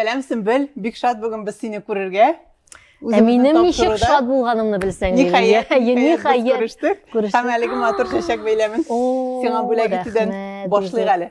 Сәлам, Симбел, бик шат бүген без сине күрергә. Ә минем ничек шат булганымны белсәң. Ниһаят, ниһаят күрештек. Һәм әлеге матур чәчәк бәйләмен сиңа бүләк итүдән башлыйк әле.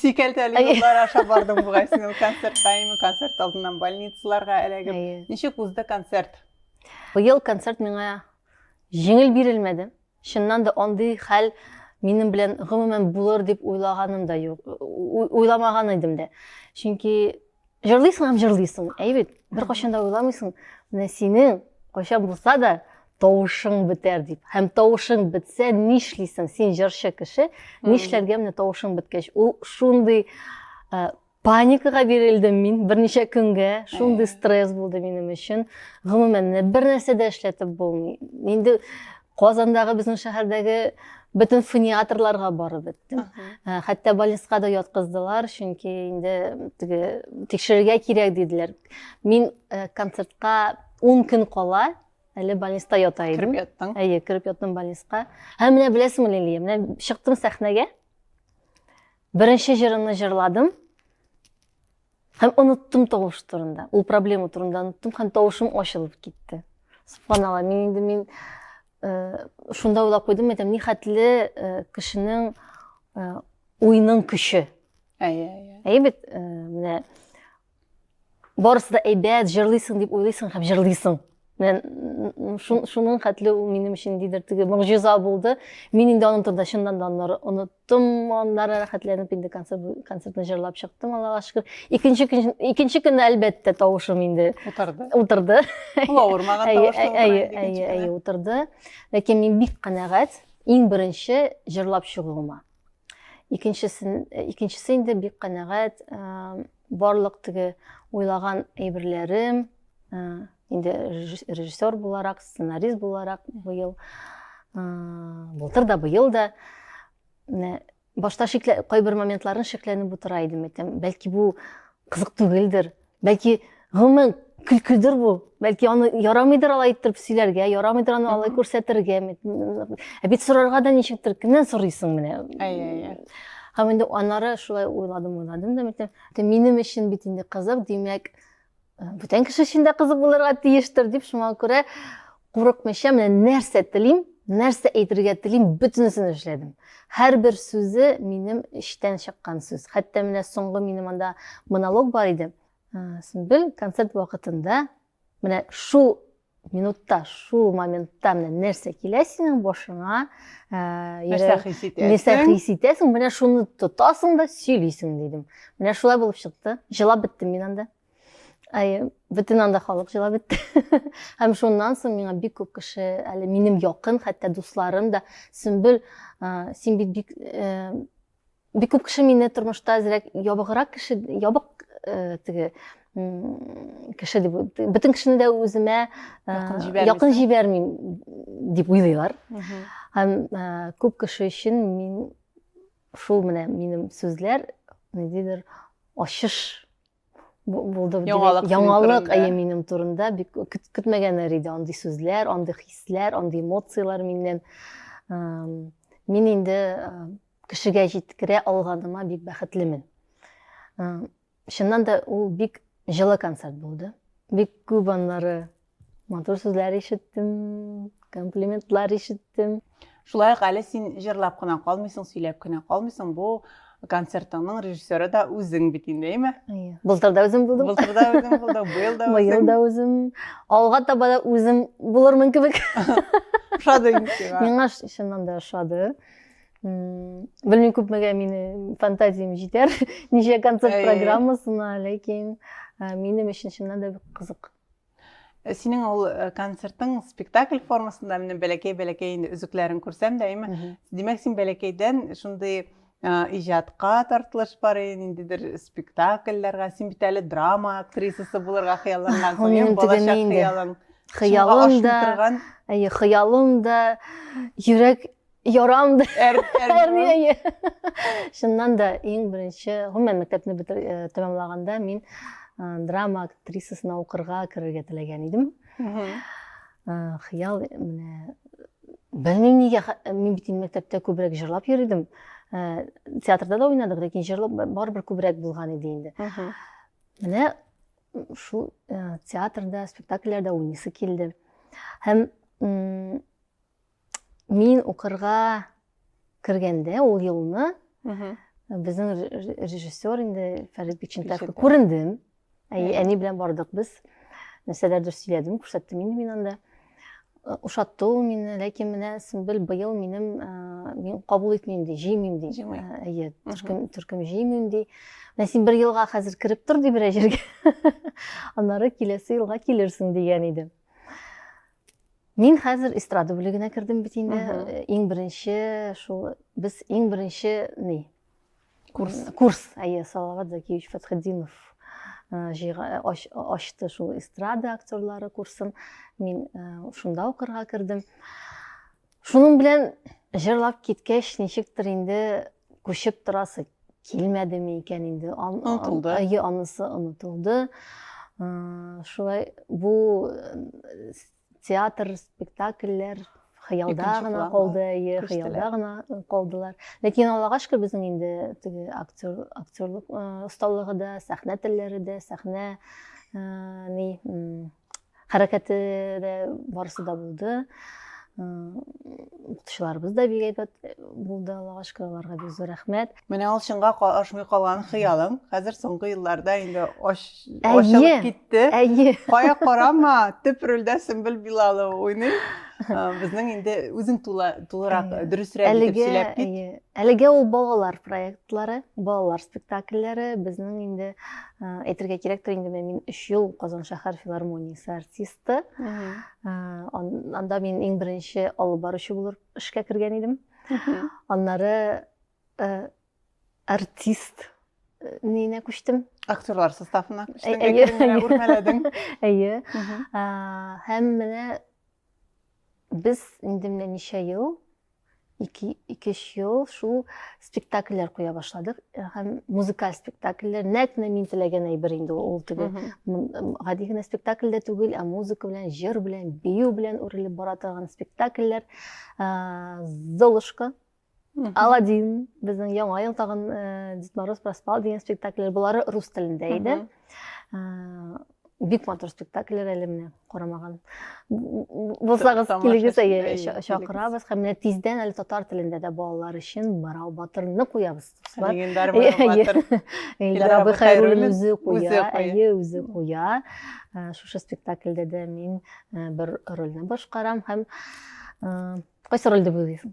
сикәлтәле юллар аша бардың бугай син ул концерт таймы концерт алдыннан больницаларга эләгеп ничек узды концерт быел концерт миңа җиңел бирелмәде чыннан да андый хәл минем белән гомумән булыр дип уйлаганым да юк уйламаган идем дә чөнки Җырлыйсың һәм җырлыйсың. Әй бит, бер кашын да уйламыйсың. Менә синең кайча булса да тавышың бетәр дип. Һәм тавышың бетсә, нишлисең? Син җырчы кеше, нишләргә менә тавышың беткәч? Ул шундый э, паникага бирелдем мин берничә көнгә. Шундый стресс булды минем өчен. Гомумән, бер нәрсә дә эшләтеп булмый. Инде Казандагы безнең шәһәрдәге бөтен фониаторларга барып беттем. Ә, Хәтта больницага да яткыздылар, чөнки инде теге тикшерергә кирәк диделәр. Мин ә, концертка 10 көн кала әле больниста ята Кереп идем. яттың. Әйе, кереп яттым больниска. Һәм менә беләсеңме, Лилия, менә чыктым сәхнәгә. Беренче җырымны җырладым. Һәм оныттым тавыш турында. Ул проблема турында оныттым һәм тавышым ачылып китте. Субханалла, мин инде мин э, шунда уйлап куйдым, әйтәм, ни хәтле э, кешенең э, уйның көче. Әйе, әйе. Әйе бит, э, менә барысы да әйбәт, җырлыйсың дип уйлыйсың һәм җырлыйсың. Менә шуның хәтле ул минем өчен дидер теге могҗиза булды. Мин инде аның турында чыннан да аннары оныттым. чыктым аннан рәхәтләнеп инде концерт концертны җырлап чыктым аллага шөкер икенче көн икенче көнне әлбәттә тавышым инде утырды утырды ул авырмаган тавышта әйе әйе әйе утырды ләкин мин бик канәгать иң беренче җырлап чыгуыма икенчесен икенчесе инде бик канәгать Барлык теге уйлаган әйберләрем, инде режиссер буларак, сценарист буларак быел, былтыр да, быел да, башта шиклә, кайбер моментларын шикләнеп утыра идем, әйтәм, бәлки бу кызык түгелдер, бәлки гомумән көлкедер бу бәлки аны ярамыйдыр алай иттереп сөйләргә ярамыйдыр аны алай күрсәтергә ә бит сорарга да ничектер кемнән сорыйсың менә әйе һәм инде аннары шулай уйладым уйладым да митем минем өчен бит инде кызык димәк э, бүтән кеше өчен дә кызык булырга тиештер дип шуңа күрә курыкмыйча менә нәрсә телим нәрсә әйтергә телим бөтенесен эшләдем һәрбер сүзе минем эчтән чыккан сүз хәтта менә соңгы минем анда монолог бар иде Сүмбел концерт вакытында менә шул минутта, шул моментта менә нәрсә килә синең башыңа, э, нәрсә хис итәсең? Нәрсә хис итәсең? Менә шуны тотасың да сөйлисең, дидем. Менә шулай булып чыкты. Җылап беттем мин анда. Ай, бөтен анда халык җылап бетте. Һәм шуннан соң миңа бик күп кеше, әле минем якын, хәтта дусларым да, Сүмбел, э, син бит бик э, Бик күп кеше мине тормышта әзрәк ябыграк кеше, ябык э, теге кеше дип бөтен кешене дә үземә якын җибәрмим дип уйлыйлар һәм күп кеше өчен мин шул менә минем сүзләр ниндидер ачыш булды яңалык яңалык әйе минем турында бик көтмәгәннәр иде андый сүзләр андый хисләр андый эмоцияләр миннән мин инде кешегә җиткерә алганыма бик бәхетлемен чыннан да ул бик җылы концерт булды бик күп аннары Матур сүзләр ишеттем, комплиментлар ишеттем. Шулай ук әле син җырлап кына калмыйсың, сөйләп кенә калмыйсың. Бу концертыңның режиссеры да үзең бит инде, әйме? Әйе. Былтыр да үзем булдым. Былтыр да үзем булдым, быел да үзем. Быел да үзем. Алга таба да үзем булырмын кебек. Ошады инде сиңа. Миңа чыннан да ошады. Белмим күпмегә мине фантазиям җитәр, ничә концерт программасына, ләкин минем өчен чыннан да бик кызык. Э, синең ул э, концертың спектакль формасында менә бәләкәй бәләкәй инде өзекләрен күрсәм дә әйме димәк син бәләкәйдән шундый э, иҗатка тартылыш бар ниндидер спектакльләргә син бит әле драма актрисасы булырга хыяллангансың балачак хыялың хыялым да әйе хыялым да йөрәк Ярам да. Шуннан да иң беренче, гомумән мәктәпне бетер э, тәмамлаганда мин э, драма актрисасына укырга керергә теләгән идем. Хыял менә белмим нигә мин бит мәктәптә күбрәк җырлап йөридем. Э, театрда да уйнадык, ләкин җырлап барыбер күбрәк булган иде инде. Менә шул театрда, спектакльләрдә уйныйсы килде. Һәм Мин укырга кергәндә ул елны безнең режиссер инде Фәрит Бикчентаевка күрендем. Әни белән бардык без. Нәрсәләрдер сөйләдем, күрсәттем инде мин анда. Э, ошатты ул мине ләкин менә сөмбел быел минем э, мин кабул итмим ди җыймыйм ди э, әйе төркем төркем җыймыйм ди менә син бер елга хәзер кереп тор ди берәр җиргә аннары киләсе елга килерсең дигән иде Мин хәзер эстрада бүлегенә кердем бит инде. Э, иң беренче шул без иң беренче ни? Курс. Курс, әйе, Салават Закиевич Фатхетдинов э, э, ачты шул эстрада актерлары курсын. Мин шунда укырга кердем. Шуның белән җырлап киткәч, ничектер инде күчеп торасы килмәдеме икән инде. Онытылды. Әйе, анысы онытылды. Шулай бу театр, спектакльләр хыялда гына калды, әйе, хыялда гына калдылар. Ләкин Аллага шөкер, безнең инде теге актер, актерлык осталыгы да, сәхнә телләре дә, сәхнә ни хәрәкәте дә барысы да булды укытучыларыбыз да бик әйбәт булды аллага шөкер аларга бик зур рәхмәт менә ул чынга ашмый калган хыялың хәзер соңгы елларда инде ачылып китте әйе кая карама төп рольдә сөмбел билалова уйный безнең инде үзең тулырак дөресрәк итеп сөйләп кит әлегә ул балалар проектлары балалар спектакльләре безнең инде Әйтергә кирәктер инде мин 3 ел Казан шәһәр филармониясе артисты. Анда мин иң беренче алып баручы булып эшкә кергән идем. Аннары артист нигенә күчтем. Актерлар составына күчтең, әйе, үрмәләдең. Әйе. Һәм менә Без инде менә ничә ел, ике, икеш ел шул спектакльләр куя башладык. Һәм музыкаль спектакльләр, нәкъ менә мин теләгән әйбер инде ул теге. Гади генә спектакль дә түгел, ә музыка белән, җыр белән, бию белән үрелеп бара торган спектакльләр. Золушка Аладдин, безнең яңа ел тагын э, Дед Мороз проспал дигән спектакльләр, булары рус телендә иде. Э, бик матур спектакльләр әле менә карамаган. Булсагыз килегез әйе чакырабыз һәм менә тиздән әле татар телендә дә балалар өчен Марау батырны куябыз. Легендар Марау батыр. Илдар абый Хайруллин үзе куя, әйе үзе куя. Э, шушы спектакльдә дә мин бер рольне башкарам һәм кайсы рольдә булыйсың?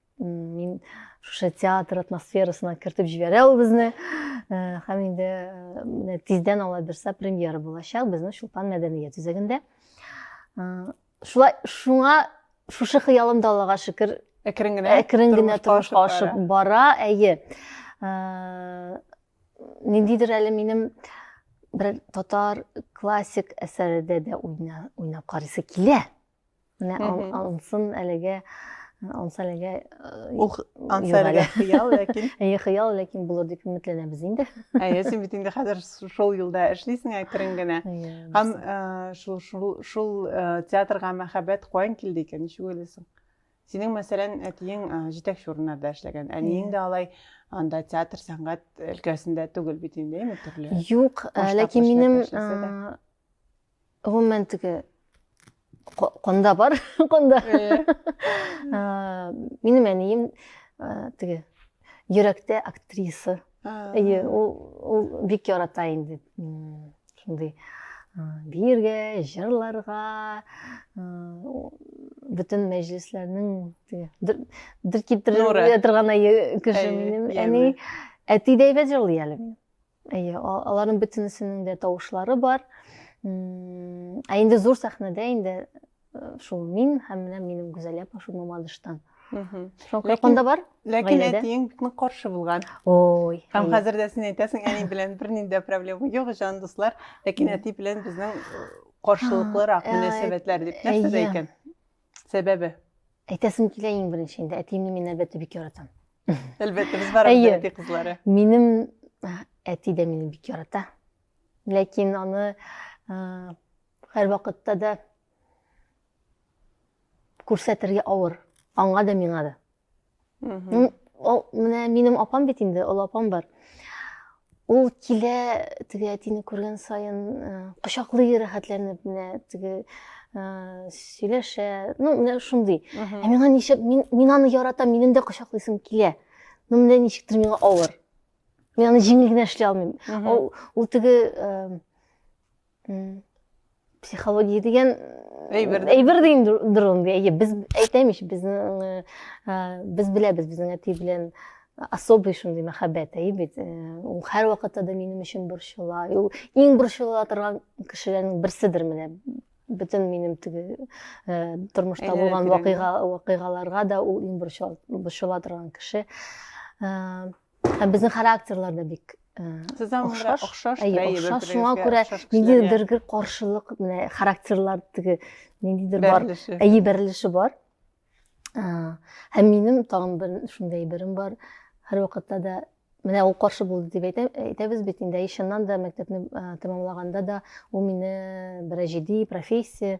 мин шушы театр атмосферасына кертеп җибәрә ул безне һәм э, инде э, менә тиздән ала бирсә премьера булачак безнең чулпан мәдәният үзәгендә э, шулай шуңа шушы хыялым да аллага шөкер әкрен генә әкрен генә тормышка ашып бара әйе ниндидер әле минем бер татар классик әсәрендә дә уйнап карыйсы килә Менә алсын әлегә анса әлегә анса әлегә хыял ләкин әйе хыял ләкин булыр дип өметләнәбез инде әйе син бит инде хәзер шул юлда эшлисең әкрен генә һәм шул шул шул театрга мәхәббәт каян килде икән ничек уйлыйсың синең мәсәлән әтиең җитәкче урыннарда эшләгән әниең дә алай анда театр сәнгать өлкәсендә түгел бит инде төрле юк ләкин минем гомумән теге канда бар канда минем әнием теге йөрәктә актриса әйе ул ул бик ярата инде шундый биергә җырларга бөтен мәҗлесләрнең дер китереп торган кеше минем әни әти дәйбәт җырлый әле минем Әйе, аларның бөтенесенең дә тавышлары бар. Ә инде зур сәхнәдә инде э, шул мин һәм менә минем Гүзәлия Пашу Мамадыштан. Шул кайкында бар? Ләкин әтиең бик нык каршы булган. Ой. Һәм хәзер дә син әйтәсең, әни белән бернинди дә проблема юк, җан дуслар. Ләкин әти белән безнең каршылыклырак мөнәсәбәтләр дип нәрсә дә икән? Сәбәбе? Әйтәсем килә иң беренче инде, әтиемне мин әлбәттә бик яратам. Әлбәттә, без барыбыз да әти кызлары. Минем әти дә мине бик ярата. Ләкин аны һәр вакытта да күрсәтергә авыр. Аңа да, миңа да. менә минем апам бит инде олы апам бар ул килә теге әтине күргән сайын э, кочаклый рәхәтләнеп менә теге э, сөйләшә ну менә шундый ә миңа ничек мин, мин аны яратам минем дә кочаклыйсым килә но менә ничектер миңа авыр мин аны җиңел генә эшли алмыйм ул, ул теге э, психология деген әйбер әйбер деген дұрын әйе біз әйтем еш біздің ә, біз білеміз біздің әти белән особый шундый мәхәббәт әйе бит ул һәр вакытта да минем өчен борчыла ул иң борчыла торган кешеләрнең берседер менә бөтен минем теге ә, тормышта булган вакыйга вакыйгаларга да ул иң борчыла торган кеше ә, Һәм безнең характерлар да бик Сездән охшаш. Охшаш, әйе, охшаш. Шуңа күрә ниндидер бер каршылык, менә характерлар теге ниндидер бар. Әйе, бәрелеше бар. Һәм минем тагын бер шундый берем бар. Һәр вакытта да менә ул каршы булды дип әйтә, әйтәбез бит инде. Ишеннан да мәктәпне тәмамлаганда да ул мине берәҗиди профессия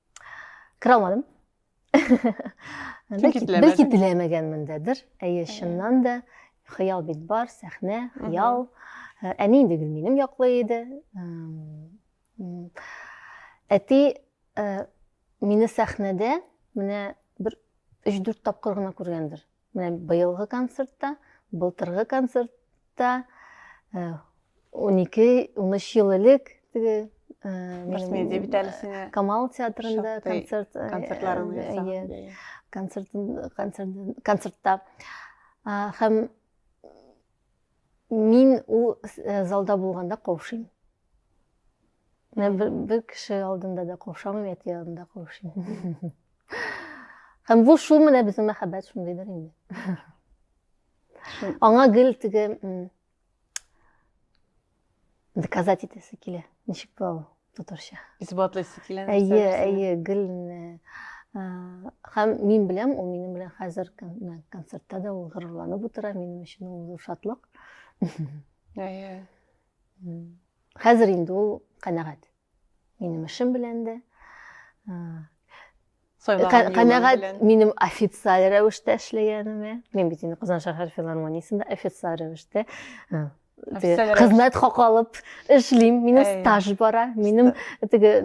кіре алмадым бәлки теләмәгәнмендәдер әйе чыннан да хыял бит бар сәхнә хыял ә, әни инде гөлминем яклы иде әти ә, мине сәхнәдә менә бер өч дүрт тапкыр гына күргәндер Менә быелгы концертта, былтыргы концертта 12-13 ел элек теге Башмедия бит әле сине Камал театрында концерт концертларын ясаган. Концерт концерт концертта һәм мин ул залда булганда каушыйм. Менә бер, бер кеше алдында да каушамыйм, әти алдында каушыйм. Һәм бу шул менә безнең мәхәббәт шундыйдыр инде. Аңа гел теге доказать итәсе килә. Ничек була ул татарча? Исбатлыйсы килә. Әйе, әйе, гел һәм мин беләм, ул минем белән хәзер концертта да ул горурланып утыра, минем өчен ул зур шатлык. Әйе. Хәзер инде ул канәгать. Минем эшем белән дә. Канәгать минем официаль рәвештә эшләгәнемә. Мин бит инде Казан шәһәр филармониясендә официаль рәвештә хезмәт хакы алып эшлим. Минем стаж бара. Минем теге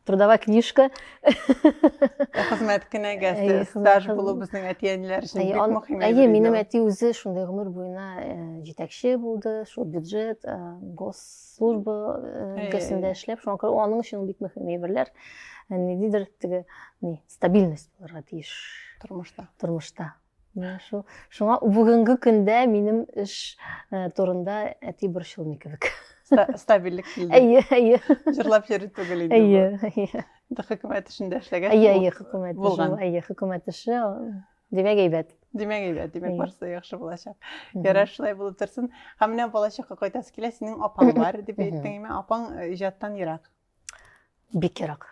трудовая книжка. Хезмәт кенәгәсе, стаж булу безнең әти-әниләр өчен бик мөһим. Әйе, минем әти үзе шундый гомер буена җитәкче булды, шул бюджет, госслужба өлкәсендә эшләп, шуңа күрә аның өчен бик мөһим әйберләр. Ниндидер теге стабильность булырга тиеш тормышта. Тормышта. Менә шул. Шуңа бүгенге көндә минем эш э, турында әти борчылмый кебек. Стабильлек килде. Әйе, әйе. Җырлап йөри түгел инде. Әйе, әйе. Инде хөкүмәт эшендә эшләгәч. Әйе, әйе, хөкүмәт эше. Әйе, хөкүмәт эше. Димәк, әйбәт. Димәк, әйбәт. Димәк, барысы да яхшы булачак. Ярар, шулай булып торсын. Һәм менә балачакка кайтасы килә, синең апаң бар дип әйттең, әйме? Апаң э, иҗаттан ерак. бик ерак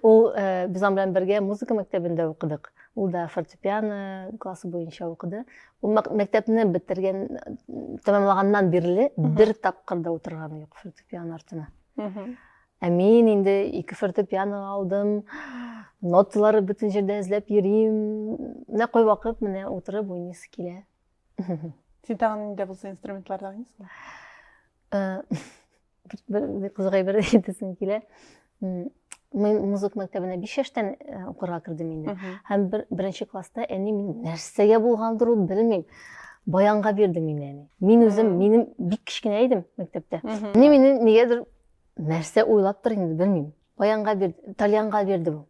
ул э, без аның белән бергә музыка мәктәбендә укыдык ул да фортепиано классы буенча укыды ул мәктәпне бетергән тәмамлаганнан бирле бер тапкыр да утырганы юк фортепиано артына ә мин инде ике фортепиано алдым ноталары бөтен җирдә эзләп йөрим менә кайвакыт менә утырып уйныйсы килә син тагын инде булса инструментларда уйныйсыңмы э, бер бер кызыгай бер әйтәсем килә мин музыка мәктәбенә биш яшьтән э, укырга кердем инде һәм бер, беренче класста әни мин нәрсәгә булгандыр ул белмим баянга бирде мин әни мин үзем минем бик кечкенә идем мәктәптә әни мине нигәдер нәрсә уйлаптыр инде белмим баянга бирде тальянга бирде бу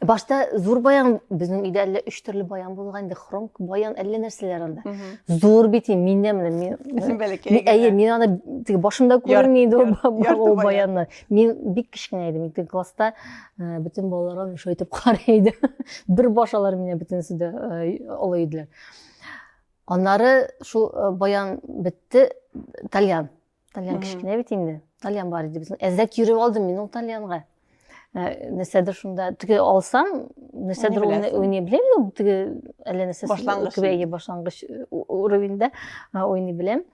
башта зур баян безнең өйдә әллә өч төрле баян булган инде хром баян әллә нәрсәләр анда зур бит инде миннән менә мин бәләкәй әйе мин аны теге башымда күрми инде ул баянны мин бик кечкенә идем икенче класста э, бөтен балалар шулай итеп карый иде бер баш алар миннән бөтенесе дә э, олы иделәр аннары шул э, баян бетте тальян тальян кечкенә бит инде тальян бар иде безнең әзрәк йөреп алдым мин ул тальянга Э, нәрсәдер шунда теге алсам нәрсәдер уйный беләм ул теге әллә нәрсә башлангыч башлангыч э, уровеньда э, уйный беләм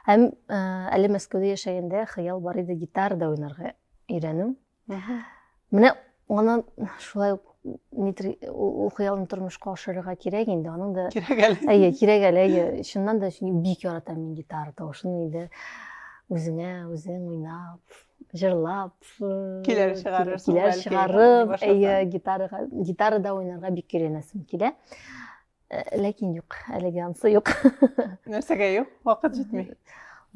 һәм әле мәскәүдә яшәгәндә хыял бар иде гитарада уйнарга өйрәнү Менә аны шулай ук Дмитрий Ухыялны тормышка ашырырга кирәк инде, аның да... Кирәк әле. Әйе, кирәк әле, әйе. Чыннан да, чөнки бик яратам мин гитара тавышын инде. Үзеңә, үзең уйнап, җырлап. Киләр чыгарырсың. Киләр чыгарып, әйе, гитарага, гитарада уйнарга бик керенәсем килә. Э, ләкин юк әлеге анысы юк нәрсәгә юк вакыт җитми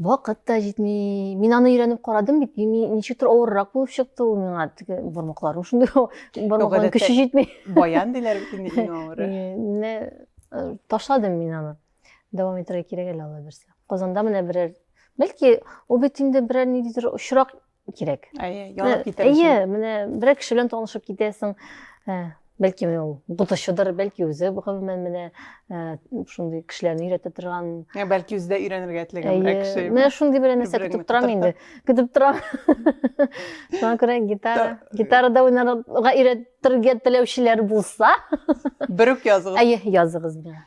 вакыт та җитми мин аны өйрәнеп карадым бит ничектер авыррак булып чыкты ул миңа теге бармакларым шундый бармакларым көче җитми баян диләр бит инде иң авыры э, ташладым мин аны дәвам итәргә кирәк әле алла бирсә казанда менә берәр бәлки ул бит инде берәр ниндидер очрак кирәк әйе янып китәр әйе менә берәр кеше белән танышып китәсең ә, бәлки ул укытучыдыр бәлки үзе гомумән менә ә, шундый кешеләрне өйрәтә торган ә, бәлки үзе дә өйрәнергә теләгән берәр кеше менә шундый берәр нәрсә көтеп торам инде көтеп торам шуңа күрә гитара гитарада уйнарга өйрәтергә теләүчеләр булса берүк языгыз әйе языгыз миңа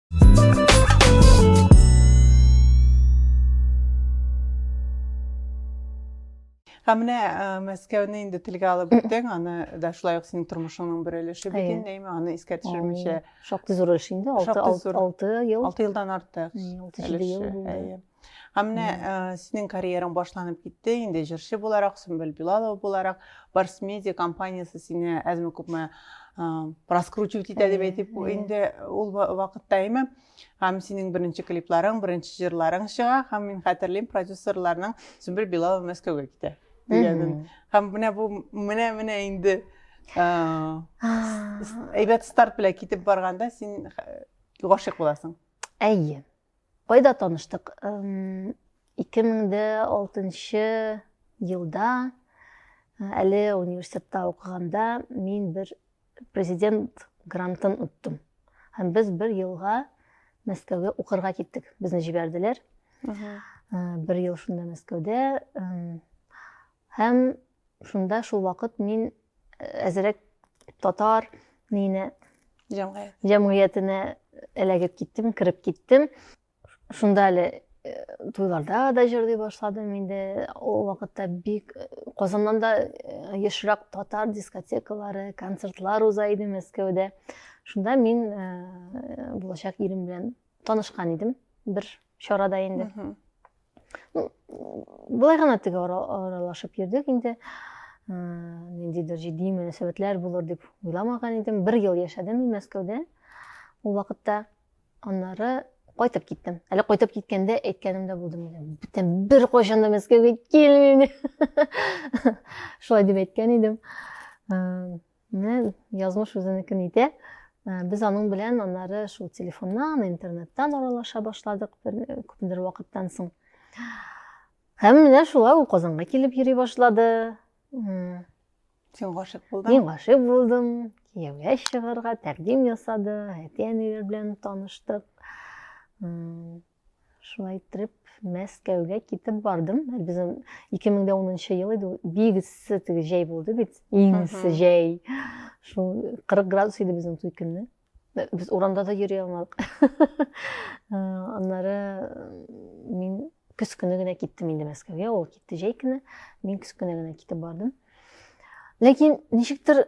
Һәм менә Мәскәүне инде телгә алып үттең, аны да шулай ук синең тормышыңның бер өлеше бөтенләйме, аны искә төшермичә. Шактый зур өлеш инде, 6 ел. 6 елдан артык. 6 ел булды. Һәм менә э, синең карьераң башланып китте, инде җырчы буларак, Сөмбел Билалова буларак, Барс Медиа компаниясе сине әзме күпме э, раскручивать итә дип әйтик, инде ул вакытта әйме. Һәм синең беренче клипларың, беренче җырларың чыга, һәм мин хәтерлим продюсерларның Сөмбел Билалова Мәскәүгә китә дигәнен. Һәм менә бу менә менә инде э, әйбәт старт белән китеп барганда син гашыйк буласың. Әйе. Кайда таныштык? 2006 елда, әле университетта укыганда, мин бер президент грантын оттым. Һәм без бер елга Мәскәүгә укырга киттек. Безне җибәрделәр. Бер ел шунда Мәскәүдә Һәм шунда шул вакыт мин әзерәк татар нине җәмгыять. җәмгыятенә эләгеп киттем, кереп киттем. Шунда әле туйларда да җырлый башладым инде. Ул вакытта бик Казаннан да ешрак татар дискотекалары, концертлар уза иде Мәскәүдә. Шунда мин булачак ирем белән танышкан идем бер чарада инде. былай гына теге аралашып йөрдек инде ниндидер җитди мөнәсәбәтләр булыр дип уйламаган идем бер ел яшәдем мин мәскәүдә ул вакытта аннары кайтып киттем әле кайтып киткәндә әйткәнем дә булды менә бүтән беркайчан да мәскәүгә килмим шулай дип әйткән идем Менә язмыш үзенекен итә. Ә, Без аның белән аннары шул телефоннан, интернеттан аралаша башладык бер э, күпмедер вакыттан соң. Һәм менә шулай ул Казанга килеп йөри башлады. М, Син гашыйк булдың. Мин гашыйк булдым, кияүгә чыгарга тәкъдим ясады, әти-әниләр белән таныштык. М, Шулай иттереп, Мәскәүгә китеп бардым. Безнең 2010 ел иде. Бик эссе теге җәй булды бит. Иң эссе җәй. Шул 40 градус иде безнең туй көнне. Без урамда да йөри алмадык. Э, аннары э, мин көз көне генә киттем инде Мәскәүгә. Ул китте җәй көне. Мин көз көне генә китеп бардым. Ләкин ничектер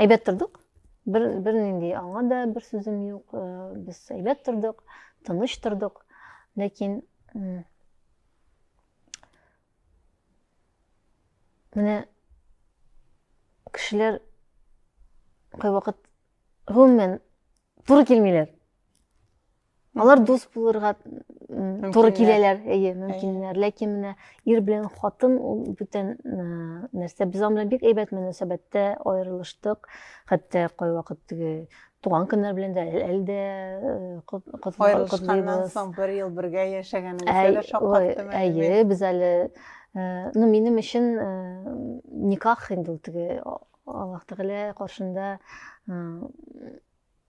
Әйбәт тордык. Бер, бер нинди аңа да бер сүзем юк. Э, без әйбәт тордык, тыныч тордык. Ләкин менә кешеләр кайвакыт гомумән туры килмиләр алар дус булырга туры киләләр әйе мөмкиннәр ләкин менә ир белән хатын ул бүтән нәрсә без аның белән бик әйбәт мөнәсәбәттә аерылыштык хәтта кайвакыт теге туган көннәр белән дә әле дә аерылышканнан соң бер ел бергә яшәгәнегезгә дә шаккаттым әйе без әле ну минем өчен никах инде ул теге Аллаһ Тәгалә каршында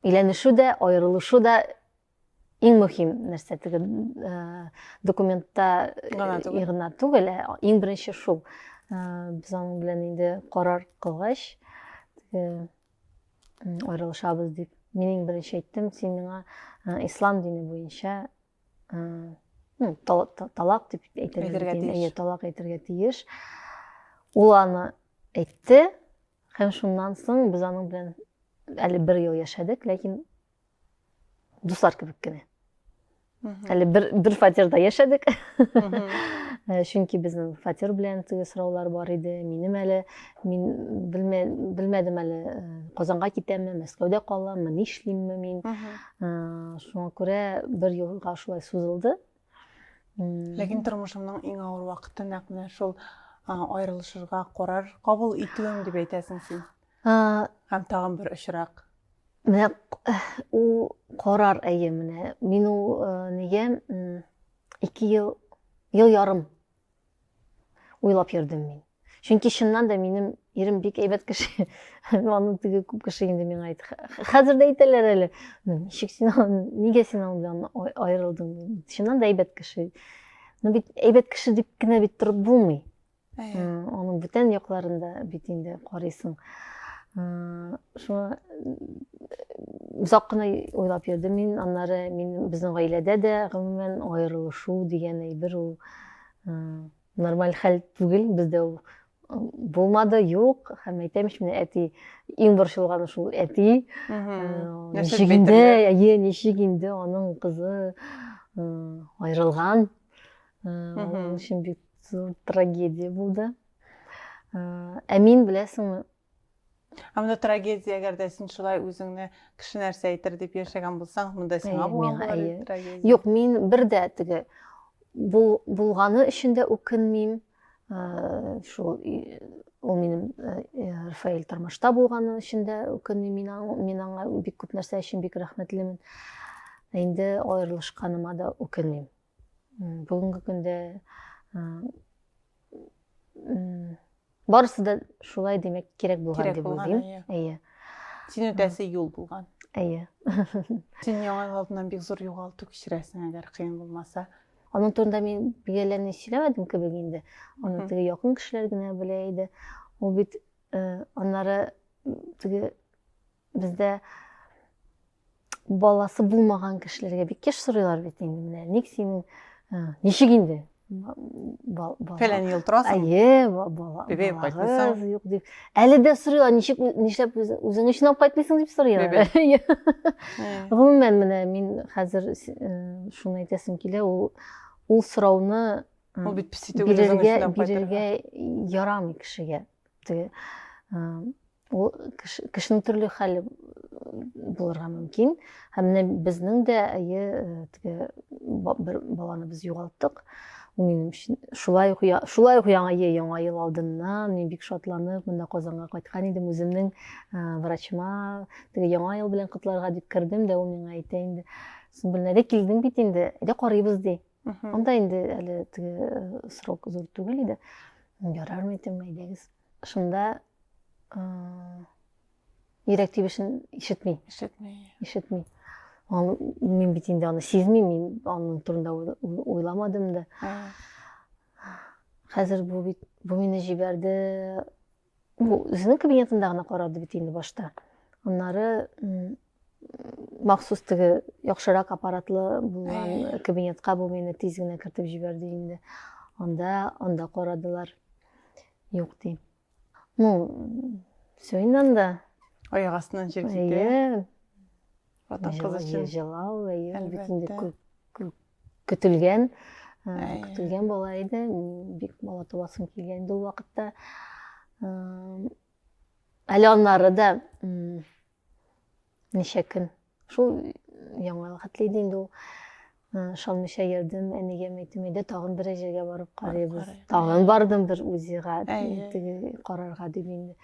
өйләнешү дә, аерылышу да иң мөһим нәрсә теге документта гына түгел, ә иң беренче шул. Без аның белән инде карар кылгач, аерылышабыз дип, мин иң беренче әйттем, син миңа ислам дине буенча ну талак дип әйтергә тиеш талак әйтергә тиеш ул аны әйтте һәм шуннан соң без аның белән әле бер ел яшәдек ләкин дуслар кебек кенә әле бер бер фатирда яшәдек э, чөнки безнең фатир белән теге сораулар бар иде минем әле мин белмәдем әле э, казанга китәмме мәскәүдә каламмы нишлимме мин шуңа күрә бер елга шулай сузылды ләкин тормышымның иң авыр вакыты нәкъ менә шул аерылышырга карар кабул итүем дип әйтәсең син һәм тагын бер очрак менә ул карар әйе менә мин ул нигә ике ел ел ярым уйлап йөрдем мин. Чөнки чыннан да минем ирем бик әйбәт кеше. Аның теге күп кеше инде миңа әйт. Хәзер дә әйтәләр әле. Ничек син нигә син аның белән аерылдың? Чыннан да әйбәт кеше. Ну бит әйбәт кеше дип кенә бит торып булмый. Аның бүтән якларында бит инде карыйсың. Шуңа озак кына уйлап йөрдем мин. Аннары мин безнең гаиләдә дә гомумән аерылышу дигән әйбер ул нормаль хәл түгел бездә ул булмады юк һәм әйтәм ич менә әти иң борчылганы шул әти ничек инде әйе ничек инде аның кызы айырылган ул өчен бик зур трагедия булды ә мин беләсеңме Ә монда трагедия, әгәр дә син шулай үзеңне кеше нәрсә әйтер дип яшәгән булсаң, монда сиңа булган булыр трагедия. Юк, мин бер дә теге булганы өчен дә үкенмим. Э, шул ул минем э, э, Рафаэль тормышта булганы өчен дә үкенмим. Мин мин аңа бик күп нәрсә өчен бик рәхмәтлемен. Инде аерылышканыма да үкенмим. бүгенге көндә барысы да шулай демәк кирәк булган дип уйлыйм әйе син үтәсе юл булган әйе син яңа ел алдыннан бик зур югалту кичерәсең әгәр кыен булмаса аның турында мин бик әллә ни сөйләмәдем кебек инде аны теге якын кешеләр генә белә иде ул бит аннары теге Бездә баласы булмаган кешеләргә бик еш сорыйлар бит инде менә ник синең ничек инде фәлән ел торасың әйе бала бебек кайтмыйсың юк дип әле дә сорыйлар ничек нишләп үзең өчен алып кайтмыйсың дип сорыйлар гомумән менә мин хәзер шуны әйтәсем килә ул ул сорауны ул бит песитүгел бирергә бирергә ярамый кешегә Теге ул кешенең төрле хәле булырга мөмкин. Һәм менә безнең дә әйе теге бер баланы без югалттык. Минем өчен шулай ук шулай ук яңа е яңа ел алдыннан мин бик шатланып монда Казанга кайткан идем. Үземнең врачыма теге яңа ел белән котларга дип кердем дә ул миңа әйтә инде. Син беләдә килдең бит инде. Әйдә карыйбыз ди. анда инде әле теге э, срок зур түгел иде ярармы итем әйдәгез шунда э, йөрәк тибешен ишетми ишетми ишетми ал мин бит инде аны сизмим мин аның турында уйламадым да хәзер бу бит бу мине җибәрде Ул үзенең кабинетында гына карады бит инде башта. Аннары махсус теге яхшырак аппаратлы булган э. кабинетка бу мине тиз генә кертеп җибәрде инде. Анда, анда карадылар. Юк ди. Ну, все инде анда. Аяк астынан җир китте. Ватан кызы Җыла- өчен. Җылау, әйе, бит инде Әлбәттә. күп- күп көтелгән, э, Әйе. көтелгән бала иде. М, Бик бала табасым килгән инде ул вакытта. Эм, Әле аннары да м, ничә көн шул яңа хәтле иде инде ул. Э, Ышанмыйча йөрдем, әнигә әйтем иде, тагын бер җиргә барып карыйбыз. карыйбыз. Тагын бардым бер УЗИга, Әйе. теге карарга дип инде.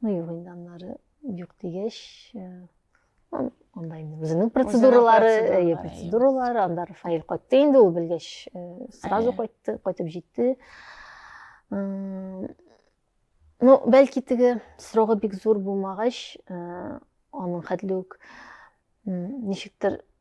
Ну, юк инде аннары юк дигәч, э, андай өзүнүн процедуралары э, процедуралар анда рафаэль кайтты инде ул билгеш э, сразу кайтты кайтып жетти ну бәлки теге срогы бик зур булмагач э, аның хәтле үк ничектер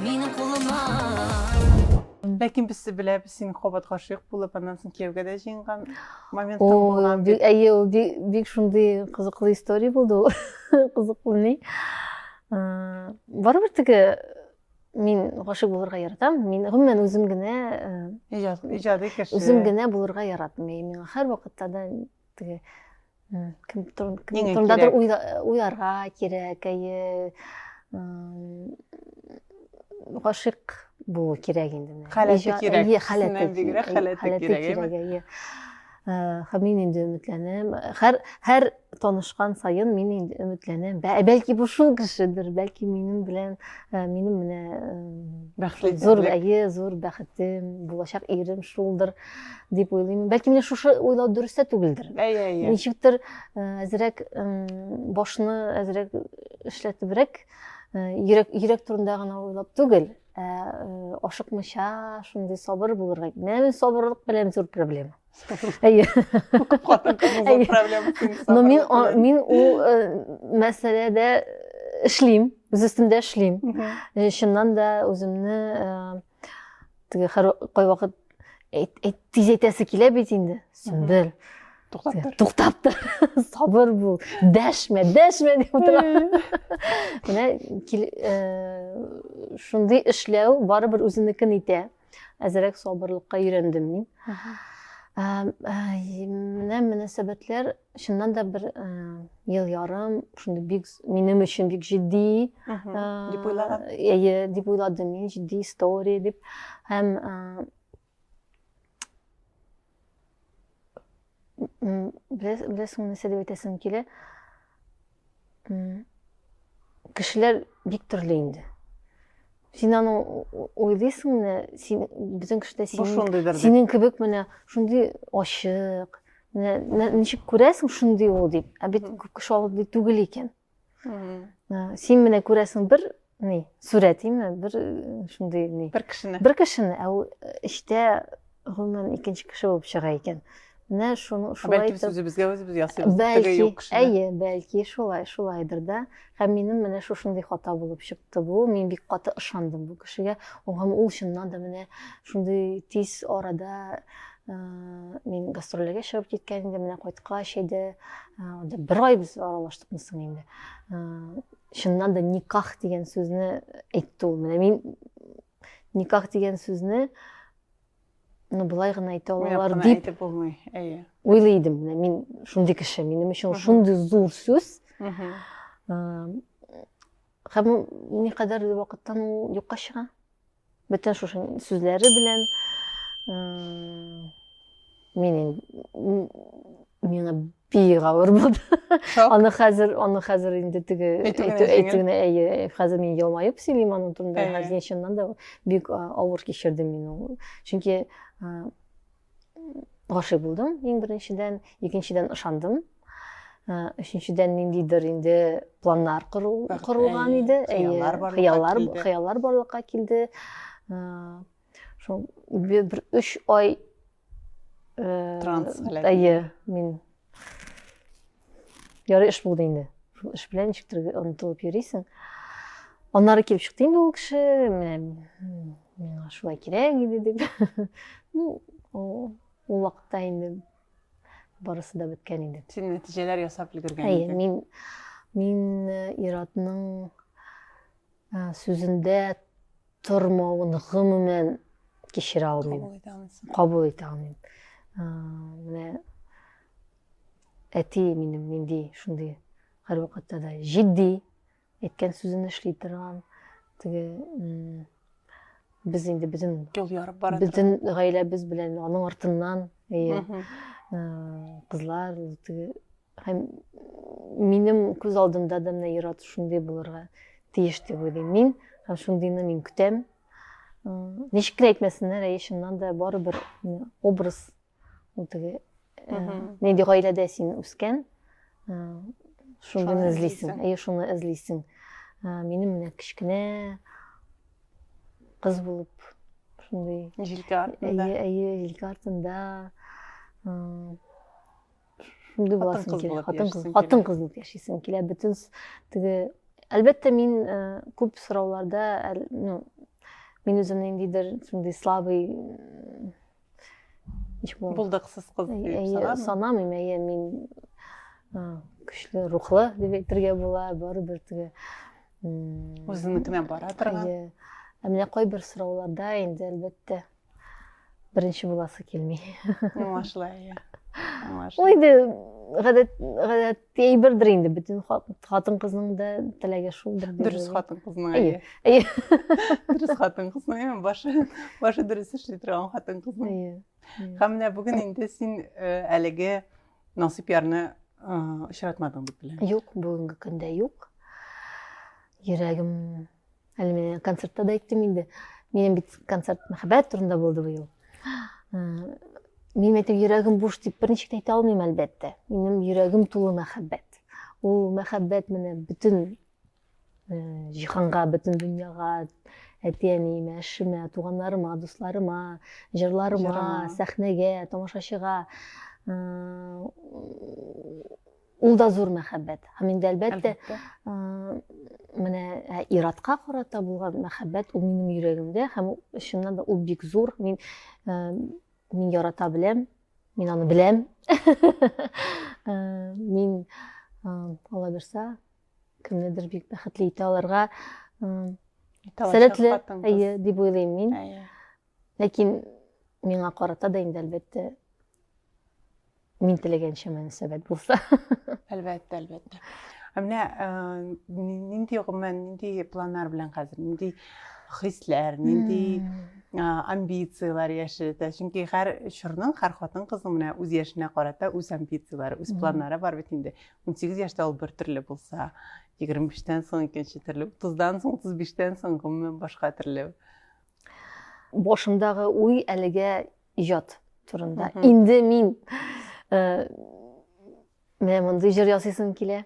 Минем кулыма. Ләкин без беләбез, син кабат гашыйк булып, аннан соң кияүгә дә җыенган момент булган. Әйе, ул бик шундый кызыклы история булды ул. Кызыклы ни. Барыбер теге мин гашыйк булырга яратам. Мин гомумән үзем генә иҗади кеше. Үзем генә булырга яратмыйм. Миңа һәрвакытта да теге кем турындадыр уйларга кирәк әйе гашыйк булу кирәк инде халәте кирәк халәте бигрәк халәте кирәк әйе һәм мин инде өметләнәм һәр һәр танышкан саен мин инде өметләнәм бәлки бу шул кешедер бәлки минем белән минем менә бәхетле зур әйе зур бәхетем булачак ирем шулдыр дип уйлыйм бәлки менә шушы уйлау дөрес тә түгелдер әйе әйе ничектер әзерәк башны әзерәк эшләтебрәк йөрәк йөрәк турында гына уйлап түгел ә ашыкмыйча шундый сабыр булырга менә мин сабырлык белән зур проблема әйе но мин мин ул мәсьәләдә эшлим үз өстемдә эшлим чыннан да үземне теге кайвакыт тиз әйтәсе килә бит инде сөмбел туктап тор туктап тор сабыр бул дәшмә дәшмә дип утыра менә шундый эшләү барыбер үзенекен итә әзерәк сабырлыкка өйрәндем мин менә мөнәсәбәтләр чыннан да бер э, ел ярым шундый бик минем өчен бик җитди дип уйлаган әйе дип уйладым мин җитди история дип һәм беләсеңме нәрсә дип әйтәсем килә Кешеләр бик төрле инде. Син аны уйлыйсың менә, син безнең кешедә синең, синең кебек менә шундый ачык, менә ничек күрәсең шундый ул дип, ә бит күп кеше алып түгел икән. Син менә күрәсең бер ни сурәтиме бер шундый ни бер кешене бер кешене ә ул эчтә гомумән икенче кеше булып чыга икән менә шуны шулай бәлки без үзебезгә үзебез ясыйбыз бәлки юк кешене әйе бәлки шулай шулайдыр да һәм минем менә шушындый хата булып чыкты бу мин бик каты ышандым бу кешегә һәм ул чыннан да менә шундый тиз арада мин гастрольләргә чыгып киткән идем менә кайткач әйдә бер ай без аралаштыкмы соң инде чыннан да никах дигән сүзне әйтте ул менә мин никах дигән сүзне ну былай гына әйтә алалар дип әйтеп булмый әйе уйлый идем менә мин шундый кеше минем өчен шундый зур сүз һәм никадәр вакыттан ул юкка чыга Бөтен шушы сүзләре белән мин миңа бик авыр булды. Аны хәзер, аны хәзер инде теге әйтүгенә әйе, хәзер мин елмаеп сөйлим аның турында. Хәзер чыннан да бик авыр кичердем мин ул. Чөнки гашыйк булдым иң беренчедән икенчедән ышандым өченчедән ниндидер инде планнар корылган иде хыяллар хыяллар барлыкка килде шул бер өч ай транс әйе мин Ярый эш булды инде. Шул эш белән ничектер онытылып йөрисең. Аннары килеп чыкты инде ул кеше, менә миңа шулай кирәк иде дип. Ну, ул вакытта инде барысы да беткән инде. Син нәтиҗәләр ясап өлгергән Әйе, идең. мин мин э, иратның э, сүзендә тормавын гомумән кичерә алмыйм. Кабул итә алмыйм. Кабул итә алмыйм. Э, менә Әти минем нинди шундый һәрвакытта да җитди, әйткән сүзен эшли торган, теге без инде бөтен юл ярып бара бөтен гаиләбез белән аның артыннан э, кызлар теге һәм минем күз алдымда да менә ир-ат шундый булырга тиеш дип уйлыйм мин һәм шундыйны мин көтәм ничек кенә әйтмәсеннәр әйе чыннан да барыбер образ ул теге нинди гаиләдә син үскән шуны эзлисең әйе шуны эзлисең минем менә кечкенә кыз булып шундый җилкә артында әйе әйе җилкә артында шундый буласың килә хатын кыз хатын кыз булып яшисең килә бөтен теге әлбәттә мин күп сорауларда ну мин үземне ниндидер шундый слабый еш болдым булдыксыз кыз дип санамыйм әйе мин көчле рухлы дип әйтергә була барыбер теге үзенекенә бара торган әйе ә менә кайбер сорауларда инде әлбәттә беренче буласы килми аңлашыла әйе аңлашыла ул инде гадәт гадәт әйбердер инде бөтен хатын кызның да теләге шулдыр дөрес хатын кызның әйе әйе дөрес хатын кызның әйе башы башы дөрес эшли торган хатын кызның әйе һәм менә бүген инде син э, әлеге насыйп ярны э, очратмадың дип беләм юк бүгенге көндә юк йөрәгем әле менә концертта да әйттем инде минем бит концерт мәхәббәт турында булды быел минем әйтеп йөрәгем буш дип берничек әйтә алмыйм әлбәттә минем йөрәгем тулы мәхәббәт ул мәхәббәт менә бөтен җиһанга бөтен дөньяга әти әниемә эшемә туганнарыма дусларыма җырларыма сәхнәгә тамашачыга Ул да зур мәхәббәт. Һәм инде әлбәттә, менә ә, иратка карата булган мәхәббәт ул минем йөрәгемдә һәм чыннан да ул бик зур. Мин ә, мин ярата беләм, мин аны беләм. Ә, мин алла бирса кемнедер бик бәхетле итә алырга сәләтле әйе дип уйлыйм мин. Ләкин миңа карата да инде әлбәттә мин теләгәнчә мөнәсәбәт булса әлбәттә әлбәттә ә менә э, нинди гомумән нинди планнар белән хәзер нинди хисләр нинди амбицияләр яшерә чөнки һәр чорның һәр хатын кызның менә үз яшенә карата үз амбицияләре үз планнары бар бит инде унсигез яшьтә ул бертөрле булса егерме биштән соң икенче төрле утыздан соң утыз биштән соң гомумән башка төрле башымдагы уй әлегә ижат турында инде мин э, менә мондый җыр ясыйсым килә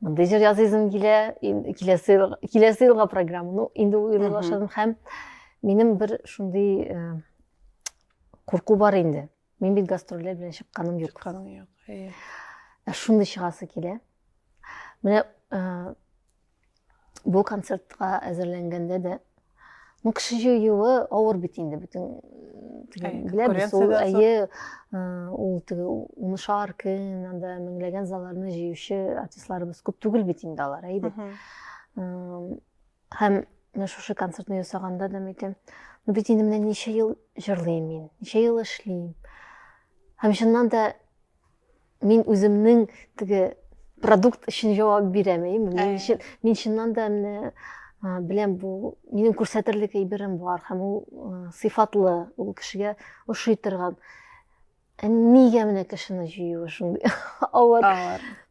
мондый җыр ясыйсым килә киләсе киләсе елга программа ну инде уйлый башладым һәм минем бер шундый э, курку бар инде мин бит гастрольләр белән чыкканым юк чыкканым юк ә шундый чыгасы килә менә бу концертка әзерләнгәндә дә ну кеше җыюы авыр бит инде бөтен беләбез ул әйе ул теге унышар көн анда меңләгән залларны җыючы артистларыбыз күп түгел бит инде алар әйе һәм менә шушы концертны ясаганда да әйтәм ну бит инде менә ничә ел җырлыйм мин ничә ел эшлим һәм чыннан да Мин үземнең теге продукт өчен җавап бирәм, әйеме? Мин өчен мин чыннан да менә беләм бу минем күрсәтерлек әйберем бар һәм ул сыйфатлы, ул кешегә ошый торган. Ә нигә менә кешене җыюы шундый авыр?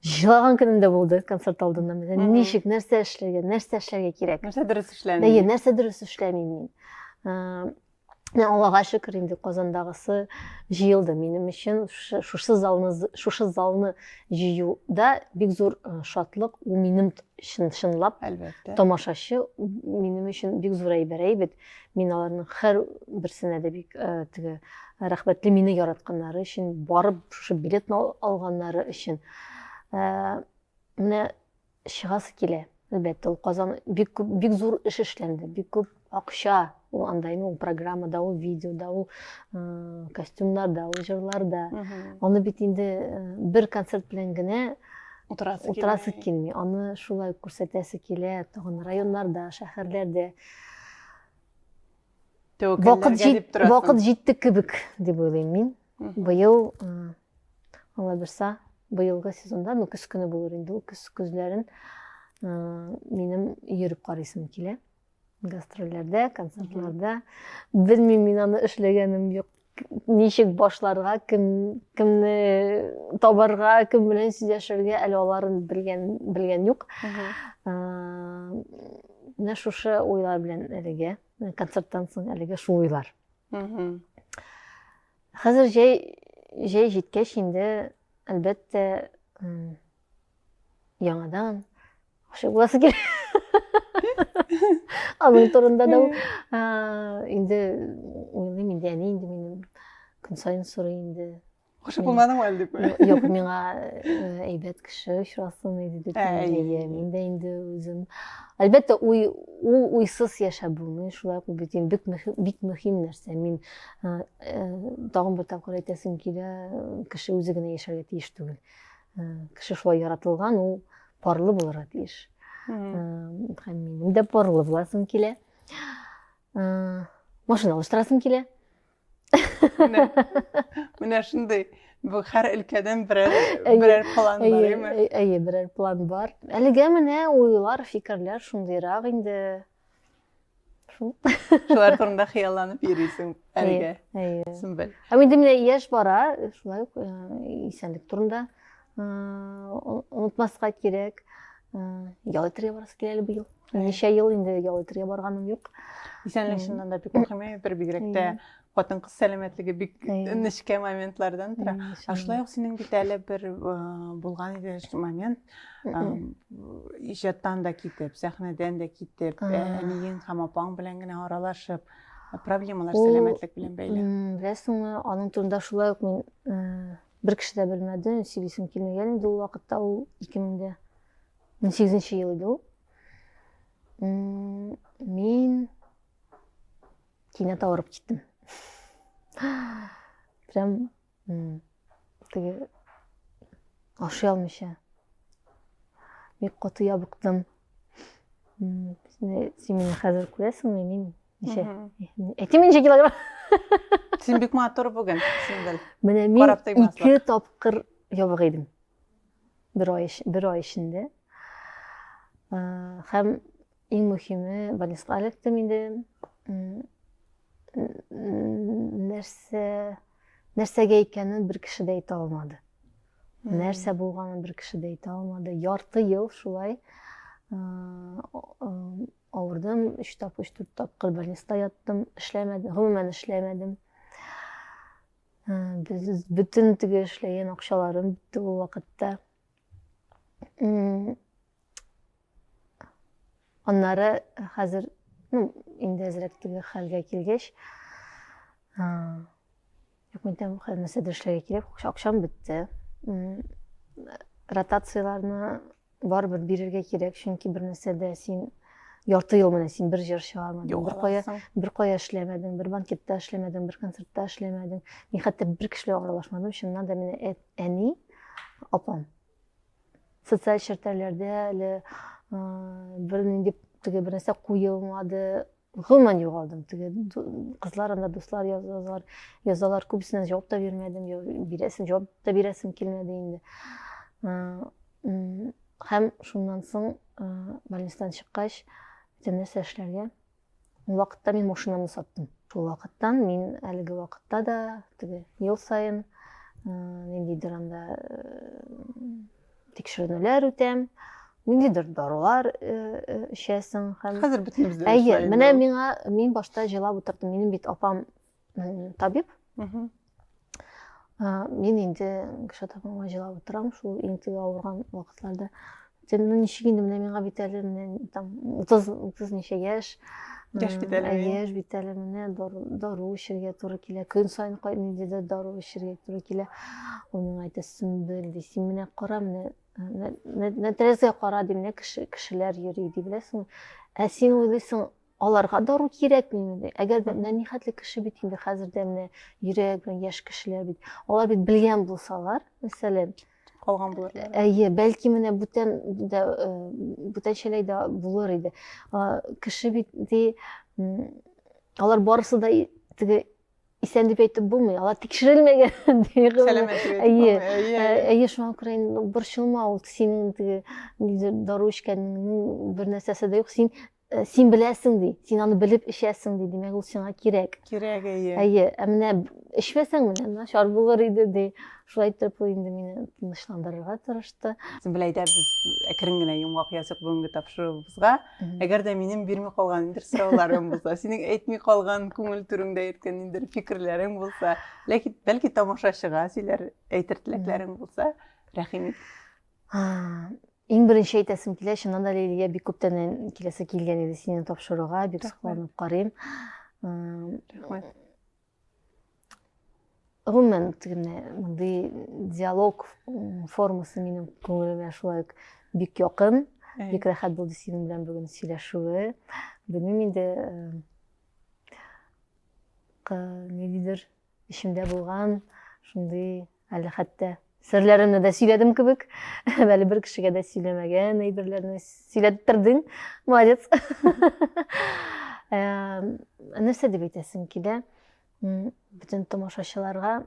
Җылаган көнем дә булды концерт алдыннан. Менә ничек, нәрсә эшләргә, нәрсә эшләргә кирәк? Нәрсә дөрес эшләмим? Әйе, нәрсә дөрес эшләмим мин? Аллага шөкер инде Казандагысы җыелды. Минем өчен шушы залны шушы залны җыюда бик зур э, шатлык. Ул минем чын чынлап әлбәттә. Тамашачы минем өчен бик зур әйбер әйбит. Мин аларның һәр берсенә дә бик э, теге рәхмәтле мине яратканнары өчен, барып шушы билетны алганнары өчен. Э, менә Чыгасы килә, әлбәттә, ул Казан бик күп, бик зур эш эшләнде, бик күп акча ул анда инде ул программада, ул видеода, ул э, костюмнарда, ул җырларда. Аны бит инде э, бер концерт белән генә утырасы, утырасы килми. Аны шулай күрсәтәсе килә, тагын районнарда, шәһәрләрдә. Вакыт, җит, вакыт җитте кебек, дип уйлыйм мин. Быел, Алла бирса, быелгы сезонда, ну, көз көне булыр инде, ул көз көзләрен минем йөреп карыйсым килә. Гастрольләрдә, концертларда. Белмим мин аны эшләгәнем юк. Ничек башларга, кем кемне табарга, кем белән сөйләшергә әле аларын белгән белгән юк. Менә шушы уйлар белән әлегә концерттан соң әлегә шул уйлар. хәзер җәй җәй җиткәч инде әлбәттә яңадан гашыйк буласы килә аның турында да инде уйлыйм инде әни инде минем көн сайын сорый инде Гашык булмадыңмы әле дип? Юк, миңа әйбәт кеше очрасын иде дип әйе, мин дә инде үзем. Әлбәттә, уй ул уйсыз яшәп булмый, шулай ук бит инде бик мөһим, бик мөһим нәрсә. Мин тагын бер тапкыр әйтәсем килә, кеше үзе генә яшәргә тиеш түгел. Кеше шулай яратылган, ул парлы булырга тиеш. Һәм минем дә парлы буласым килә. Машина алыштырасым килә. менә менә шундый бу һәр өлкәдән берәр берәр план бар әйме әйе берәр план бар әлегә менә уйлар фикерләр шундыйрак инде шул шулар турында хыялланып йөрисең әлегә әйе әйе ә инде менә яшь бара шулай ук исәнлек турында Онытмаска кирәк. Ял итәргә барасы килә әле быел. Ничә ел инде ял итәргә барганым юк. Исәнлек чыннан да бик мөһим әйбер, бигрәк тә хатын кыз сәламәтлеге бик нечкә моментлардан тора. Ә шулай ук синең бит әле бер булган иде момент, иҗаттан да китеп, сәхнәдән дә китеп, әниең һәм апаң белән генә аралашып, проблемалар сәламәтлек белән бәйле. Беләсеңме, аның турында шулай ук мин бер кеше дә белмәде, сөйлисем килмәгән инде ул вакытта, ул 2008 ел иде ул. Мин кинәт авырып киттем. Прям теге ашый алмыйча бик каты ябыктым. Син мине хәзер күрәсеңме, мин неше әти мин неше килограмм син бик матур бүген сингел менә мин ике тапкыр ябык идем бер ай бер ай эчендә һәм иң мөһиме больницага эләктем инде нәрсә нәрсәгә икәнен бер кеше дә әйтә алмады нәрсә булганын бер кеше дә әйтә алмады ярты ел шулай Авырдым, өч тапкыр, өч дүрт тапкыр больниста яттым, эшләмәдем, гомумән эшләмәдем. Ә, без- Бөтен теге эшләгән акчаларым бетте ул вакытта. М, Аннары хәзер, ну, инде әзрәк теге хәлгә килгәч, а, Юк, мин там хәзер нәрсә эшләргә кирәк, акчам бетте. Ротацияләрне барыбер бирергә кирәк, чөнки бер нәрсәдә син ярты ел менә син бер җыр чыгармадың, бер кая, бер кая эшләмәдең, бер банкетта эшләмәдең, бер концертта эшләмәдең. Мин хәтта бер кеше белән аралашмадым, чыннан да менә әни, апам. Социаль челтәрләрдә әле бер нинди теге бер нәрсә куелмады, гомумән югалдым теге кызлар анда дуслар язалар язалар күбесенә җавап та бирмәдем бирәсем җавап та бирәсем килмәде инде һәм шуннан соң больницадан чыккач бөтен нәрсә эшләргә ул вакытта мин машинамны саттым шул вакыттан мин әлеге вакытта да теге ел саен ниндидер анда тикшеренүләр үтәм ниндидер дарулар эчәсең һәм хәзер бөтенебез дә әйе менә миңа мин башта җылап утырдым минем бит апам табиб мин инде кеше табыма җылап утырам шул иң теге авырган вакытларда сен ну ничек инде менә миңа бит әле менә там утыз утыз ничә яшь Яшь бит әле. Яшь бит әле менә дару эчәргә туры килә. Көн саен нинди дә дару эчәргә туры килә. Ул миңа әйтә, Сөмбел, ди, син менә кара, менә нәтрәзгә кара, ди, менә кеше, кешеләр йөри, ди, беләсеңме? Ә син уйлыйсың, аларга дару кирәкмиме ди? Әгәр дә менә нихәтле кеше бит инде хәзер дә менә йөрәк белән яшь кешеләр бит. Алар бит белгән булсалар, мәсәлән, калган булыр әйе бәлки менә бүтән дә э, бүтәнчәләй дә булыр иде кеше бит ди алар барысы да теге исән дип әйтеп булмый алар тикшерелмәгән әйе әйе шуңа күрә инде борчылма ул синең теге дару эчкәнеңнең бер нәрсәсе дә юк син Э, син беләсең ди син аны белеп эчәсең ди димәк ул сиңа кирәк кирәк әйе әйе ә менә эчмәсәң менә начар булыр иде ди шулай итеп ул инде мине тынычландырырга тырышты син беләй дә без әкрен генә йомгак яздык бүгенге тапшыруыбызга әгәр дә минем бирми калган ниндидер сорауларым булса синең әйтми калган күңел түреңдә йөрткән ниндидер фикерләрең булса ләкин бәлки тамашачыга сөйләр әйтер теләкләрең булса рәхим ит Иң беренче әйтәсем килә, чыннан да Лилия бик күптәннән киләсе килгән иде сине тапшыруга, бик сокланып карыйм. Рәхмәт. Гомумән, мондый диалог формасы минем күңелемә шулай ук бик якын, бик рәхәт булды синең белән бүген сөйләшүе. Белмим инде, э, нидидер Эчемдә булган шундый әле хәтта серләремне дә сөйләдем кебек, әле бер кешегә дә сөйләмәгән әйберләрне сөйләп тордың. Молодец. Нәрсә дип әйтәсең килә? Бөтен тамашачыларга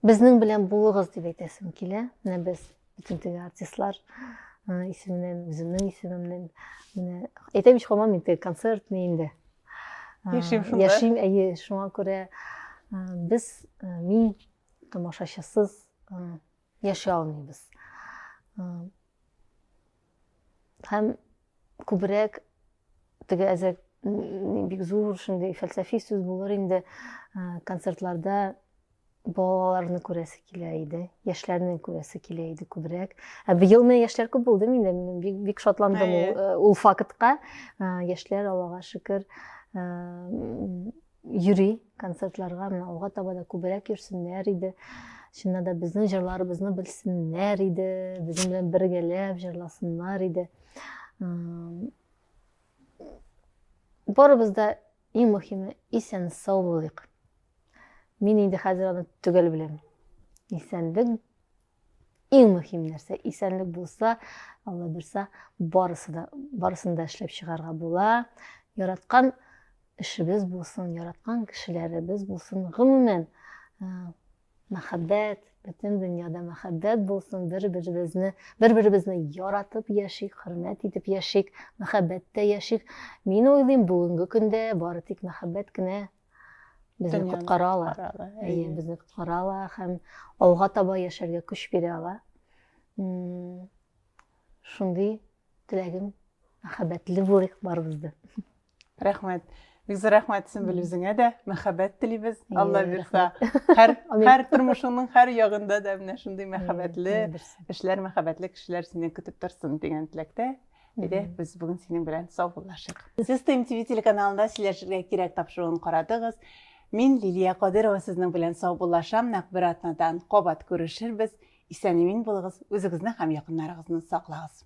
Безнең белән булыгыз дип әйтәсем килә. Менә без бөтен теге артистлар исеменнән, үземнең исемемнән менә әйтәм ич хамам инде концертный инде. Яшим шунда. Яшим, әйе, шуңа күрә без мин тамашачысыз яши алмыйбыз. Һәм күбрәк теге әзер бик зур шундый фәлсәфи сүз булыр инде э, концертларда балаларны күрәсе килә иде яшьләрне күрәсе килә иде күбрәк ә быел менә яшьләр күп булды миндә мин бик, бик шатландым ул, э, ул фактка э, яшьләр аллага шөкер йөри концертларга менә алга таба да күбрәк йөрсеннәр иде чыннан да безнең җырларыбызны белсеннәр иде безнең белән бергәләп җырласыннар иде барыбыз да иң мөһиме исән сау булыйк мин инде хәзер аны төгәл беләм исәнлек иң мөһим нәрсә исәнлек булса алла бирса барысы да барысын да эшләп чыгарга була яраткан эшебез булсын яраткан кешеләребез булсын гомумән э, мәхәббәт бөтен дөньяда мәхәббәт булсын бер беребезне бер беребезне яратып яшик хөрмәт итеп яшик мәхәббәттә яшик мин уйлыйм бүгенге көндә бары тик мәхәббәт кенә безне коткара ала әйе безне коткара ала һәм алга таба яшәргә көч бирә ала шундый теләгем мәхәббәтле булыйк барыбыз да рәхмәт бик зур рәхмәт сөмбел үзеңә дә мәхәббәт телибез алла бирса һәр һәр тормышыңның һәр ягында да менә шундый мәхәббәтле эшләр мәхәббәтле кешеләр сине көтеп торсын дигән теләктә Әйдә, без бүген синең белән саубуллашыйк. Сез Тим ТВ телеканалында сөйләшергә кирәк тапшыруын карадыгыз. Мин Лилия Кадырова сезнең белән саубуллашам. Нәкъ бер атнадан кабат күрешербез. Исән-имин булыгыз, үзегезне һәм якыннарыгызны саклагыз.